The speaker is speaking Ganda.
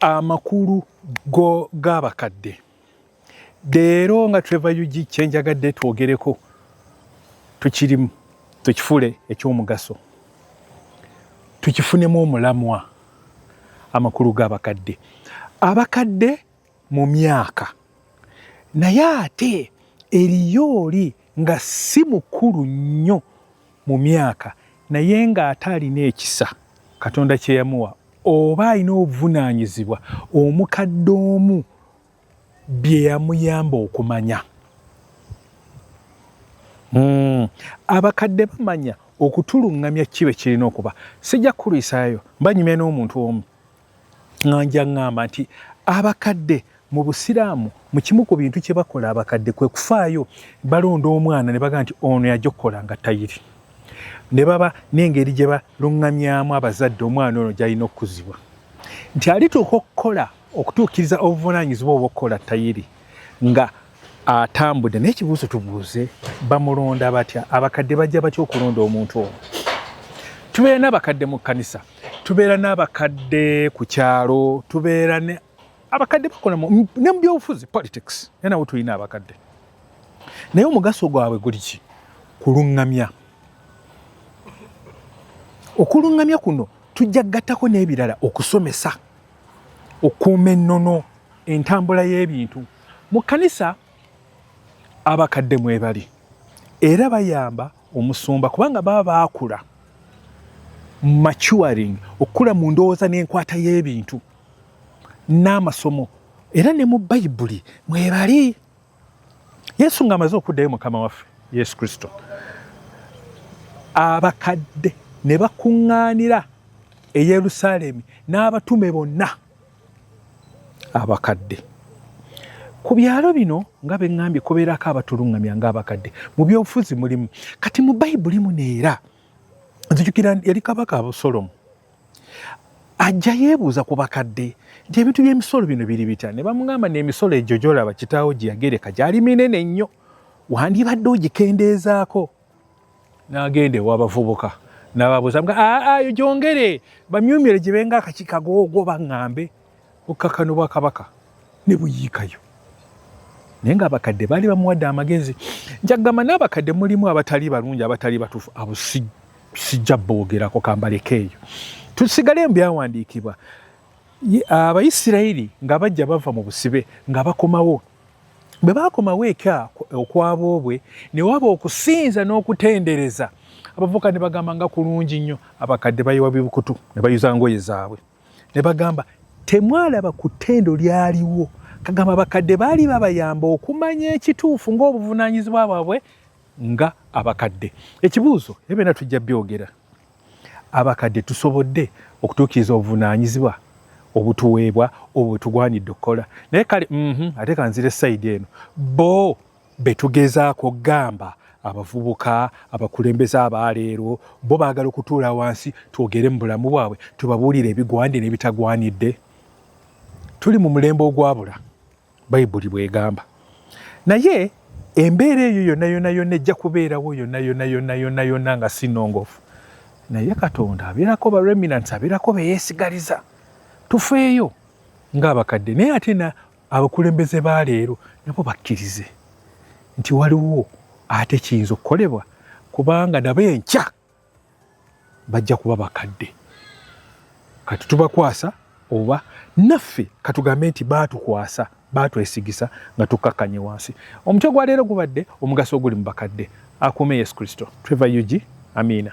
amakulu g'abakadde leero nga trevor ug kyenjagadde twogereko tukirimu tukifule ekyomugaso tukifunemu omulamwa amakulu g'abakadde abakadde mu myaka naye ate eriyo oli nga si mukulu nnyo mu myaka naye ng'ate alina ekisa katonda kye yamuwa oba alina obuvunaanyizibwa omukadde omu bye yamuyamba okumanya hmm. abakadde bamanya okutuluŋŋamya kibe kirina okuba sijja kukulwisaayo mbanyumya n'omuntu omu nga nja ŋŋamba nti abakadde mu busiraamu mu kimu ku bintu kye bakola abakadde kwe kufaayo balonda omwana ne baga nti ono yajja okukola nga tayiri ne baba n'engeri gye baluŋŋamyamu abazadde omwana ono gy'alina okukuzibwa nti alituuka okukola okutuukiriza obuvunaanyizibwa obwokukola tayiri nga atambude naye kibuuzo tubuuze bamulonda batya abakadde bajja batya okulonda omuntu oyo tubeera n'abakadde mu kkanisa tubeera n'abakadde ku kyalo tubeera ne abakadde bakola ne mubyobufuzi politics naye nawo tulina abakadde naye omugaso gwabwe guli ki kuluŋŋamya okuluŋŋamya kuno tujja gattako n'ebirala okusomesa okuuma ennono entambula y'ebintu mu kkanisa abakadde mwebali era bayamba omusumba kubanga baba baakula maturing okukula mu ndowooza n'enkwata y'ebintu n'amasomo era ne mu bayibuli mwebali yesu ng'amaze okuddayo mukama waffe yesu kristo abakadde ne bakuŋŋaanira e yerusaalemi n'abatume bonna abakadde ku byalo bino nga beŋŋambye kubeerako abatuluŋŋamya ng'abakadde mu byobufuzi mulimu kati mu bayibuli muno era nzijukira yali kabaka abusolomu ajja yeebuuza ku bakadde nti ebintu by'emisolo bino biri bitya ne bamugamba n'emisolo egyo gyolaba kitaawo gye yagereka gyali minene nnyo wandibadde ogikendeezaako n'agenda ewabavubuka nababuuza mga aayo gyongere bamyumyere gye benga akakikagoogwo baŋŋambe okukakana obwakabaka ne buyiikayo naye ng'abakadde baali bamuwadde amagezi njakugamba n'abakadde mulimu abatali balungi abatali batuufu abo sijja boogerako kambaleko eyo tusigale mu byawandiikibwa abayisirayiri nga bajja bava mu busibe nga bakomawo bwe baakomawo eka okwaboobwe ne waba okusinza n'okutendereza abavubuka ne bagamba nga kulungi nnyo abakadde bayiwa bibukutu ne bayuza ngoye zaabwe ne bagamba temwalaba ku ttendo lyaliwo kagamba abakadde baali babayamba okumanya ekituufu ng'obuvunaanyizibwa bwabwe nga abakadde ekibuuzo ebyona tujja byogera Abakadde tusobodde okutuukiriza obuvunaanyizibwa obutuweebwa obwo bwe tugwanidde okukola? Naye kale uhmm, ate kanzire sayidi eno, bo be tugezaako gamba abavubuka, abakulembeze aba leero, bo baagala okutuula wansi twogere mu bulamu bwabwe tubabuulire ebigwanidde n'ebitagwanidde? Tuli mu mulembe ogwabula. bayibuli bwegamba naye embeera eyo yona yona yona ejja kubeerawo yona yona yona yona yona nga sinongofu naye katonda abeerako ba reminants abeerako beyesigaliza tufeeyo ngaabakadde naye ate na abakulembeze ba leero nabo bakkirize nti waliwo ate kiyinza okukolebwa kubanga nabo enkya bajja kuba bakadde kati tubakwasa oba naffe katugambe nti baatukwasa baatwesigisa nga tukkakkanye wansi omutwe gwa leero gubadde omugaso oguli mu bakadde akuume yesu kristo trevor ug amiina